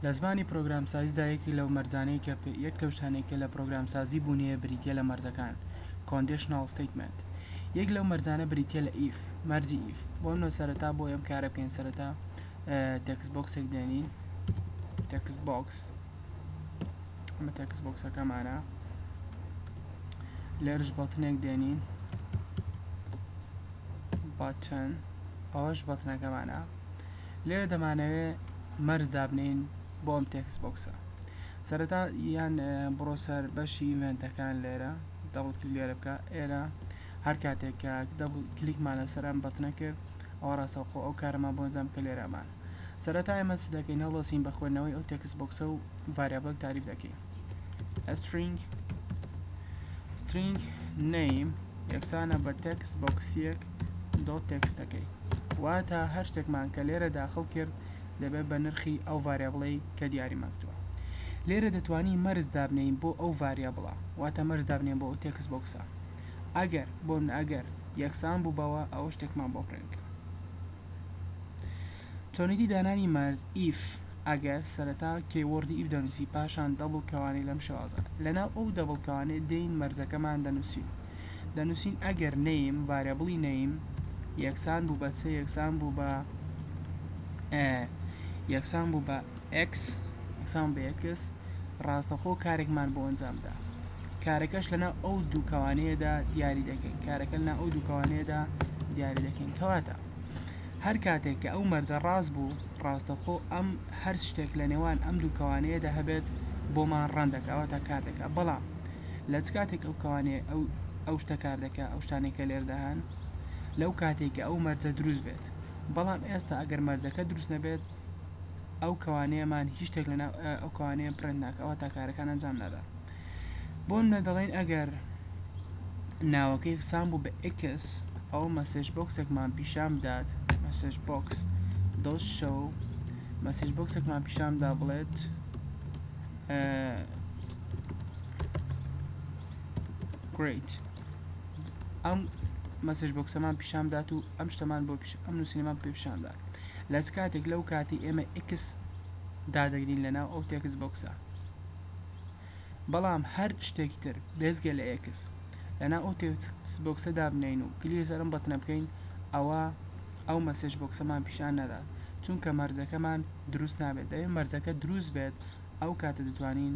لە زمانی پرۆگرامسازیدا یەکێک لەو مەرجانەی کە یەک لەو شتانەی کە لە پرۆگرامسازی بوون هەیە بریتیە لە مەرجەکان Conditional Statement یەک لەو مەرجانە بریتیە لە if مەرجی if بۆ منۆ سەرەتا بۆ ئەم کارە بکەین سەرەتا تێکس بۆکسێک دێنین تێکس بۆکس ئەمە تێکس بۆکسەکەمانە لێرش بەڵتنێک دێنین باتن ئەوەش بەتنەکەمانە لێرە دەمانەوێ مەرج دابنێین بۆ ئەم تێکست بۆکسە سەرەتا یان بڕۆ سەر بەشی ئیڤێنتەکان لێرە دەبڵ کلیک لێرە بکە ئێرە هەر کاتێک کە دەبڵ کلیکمان لەسەر ئەم بەتنە کرد ئەوە ڕاستەوخۆ ئەو کارەمان بۆ ئەنجام کە لێرەمان سەرەتا ئێمە چ دەکەین هەڵدەستین بە خوێندنەوەی ئەو تێکست بۆکسە و ڤاریابڵێک تاریف دەکەین string string name یەکسانە بە تێکس بۆکسیەک دۆ تێکستەکەی واتە هەر شتێکمان کە لێرە داخڵ کرد دەبێت بە نرخی ئەو ڤارێبڵەی کە دیاری ماکتووە لێرە دەتوانی مەرز دابنین بۆ ئەو ڤاریابڵە واتە مەرز دابنین بۆ ئەو تێکس بۆکسە ئەگەر بۆ من ئەگەر یەکسان بوو بەوە ئەو شتێکمان بۆ پرێنکە چۆنێتی دانانی مارز ئیف ئەگەر سەرەتا کیوەڕدی ئیف دەنووسی پاشان دەبڵ کەوانەی لەم شێوازە لەناو ئەو دەبڵ کەوانەی دین مەرزەکەمان دەنووسین دەنووسین ئەگەر نەیم ڤارێبڵی نەیم یەکسان بوو بە چ یەکسان بوو بە یەکسان بوو بە ئێکس یەکسان بە یەکس ڕاستەخۆ کارێکمان بۆ ئەنجامدا کارەکەش لەنا ئەو دووکەوانەیەدا دیاری دەکەین کارەکە لەنا ئەو دووکەوانەیەدا دیاری دەکەین کەواتە هەر کاتێک کە ئەو مەرجە ڕاست بوو ڕاستەخۆ ئەم هەر شتێک لە نێوان ئەم دوو کەوانەیەدا هەبێت بۆمان ڕەن دەکا واتە کار دەکا بەڵام لە چ کاتێک ئەو کەوانێ ئەو ئەو شتە کار دەکا ئەو شتانێک کە لێردا هەن لەو کاتێک کە ئەو مەرجە دروست بێت بەڵام ئێستا ئەگەر مەرجەکە دروست نەبێت ئەو کەوانەیەمان هیچ شتێک لەناو ئەو کەوانەیە پرنت ناکەوە تا کارەکان ئەنجام نادا بۆنمونە دەڵێن ئەگەر ناوەکەی خسان بوو بە ئێکس ئەوە مەسێج بۆکسێکمان پیشان بدات مەسێج بۆکس دۆز شەو مەسێج بۆکسێکمان پیشاندا بڵێت گریت ئەم مەسێج بۆکسەمان پیشان دات و ئەم شتەمان بۆ ئەم نووسینەمان پێ پیشاندات لەس کاتێک لەو کاتی ئێمە ئکس دادەگرین لەناو ئەو تێکس بۆکسە بەڵام هەر شتێکی تر بێجگە لە ئێکس لەناو ئەو تێکست بۆکسە دابنێین و کلیک لەسەر ئەم بەتنە بکەین ئەوا ئەو مەسێج بۆکسەمان پیشان نادات چونکە مەرجەکەمان دروست نابێت دەبێت مەرجەکە دروست بێت ئەو کاتە دەتوانین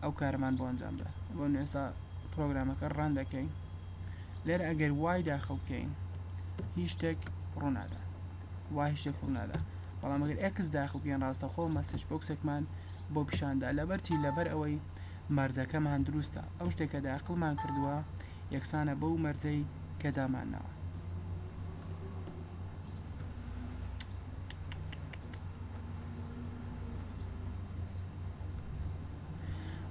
ئەو کارەمان بۆ ئەنجام بدەین ئێستا پرۆگرامەکە ڕان دەکەین لێرە ئەگەر وای داخڵ بکەین هیچ شتێک ڕوو نادات وای شتێک ڕوو نادات بەڵام ئەگەر ئێکس داخڵ بکەین ڕاستەخۆ مەسێج بۆکسێکمان بۆ پیشاندا لەبەر چی لەبەر ئەوەی مەرجەکەمان دروستە ئەو شتێک کە داخڵمان کردووە یەکسانە بەو مەرجەی کە دامانناوە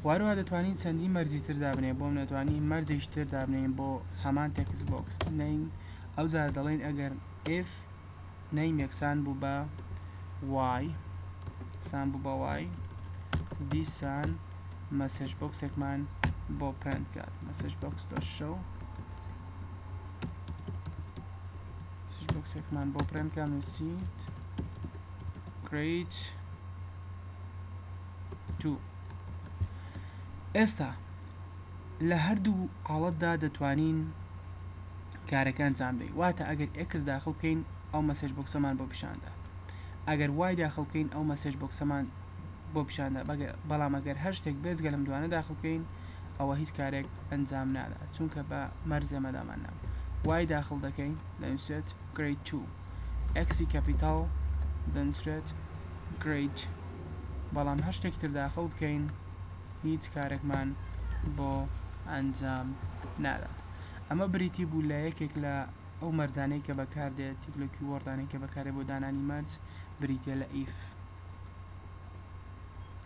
واروا دەتوانین چەندی مەرجی تر دابنێ بۆم نەتوانین مەرجێکی تر دابنین بۆ هەمان تێکس بۆکس بنین ئەو جار دەڵێن ئەگەر F نەیم یەکسان بوو بە وای یەکسان بوو بە وای دیسان مەسج بۆکسێکمان بۆ پرنت کات مەسج بۆکس دۆ شەو مەسج بۆکسێکمان بۆ پرنت کات نووسیت great تو ئێستا لە هەردوو حاڵەتدا دەتوانین کارەکە ئەنجام دەی واتە ئەگەر ئێکس داخل بکەین ئەو مەسێج بۆکسەمان بۆ پیشاندا ئەگەر وای داخل بکەین ئەو مەسێج بۆکسەمان بۆ پیشاندا بەگە بەڵام ئەگەر هەر شتێک بێزگە لەم دوانە داخل بکەین ئەوە هیچ کارێک ئەنجام نادا چونکە بە مەرزێ مەدامان ناو وای داخل دەکەین دەنووسێت گرید 2 ئەکسی کەپیتاڵ دەنووسرێت گرید بەڵام هەر شتێک تر داخل بکەین هیچ کارێکمان بۆ ئەنجام نادات ئەمە بریتی بوو لە یەکێک لە ئەو مەرجانەی کە بەکاردێت یەک لەو کیوۆڕدانەی کە بەکاردێت بۆ دانانی مەرج بریتیە لە if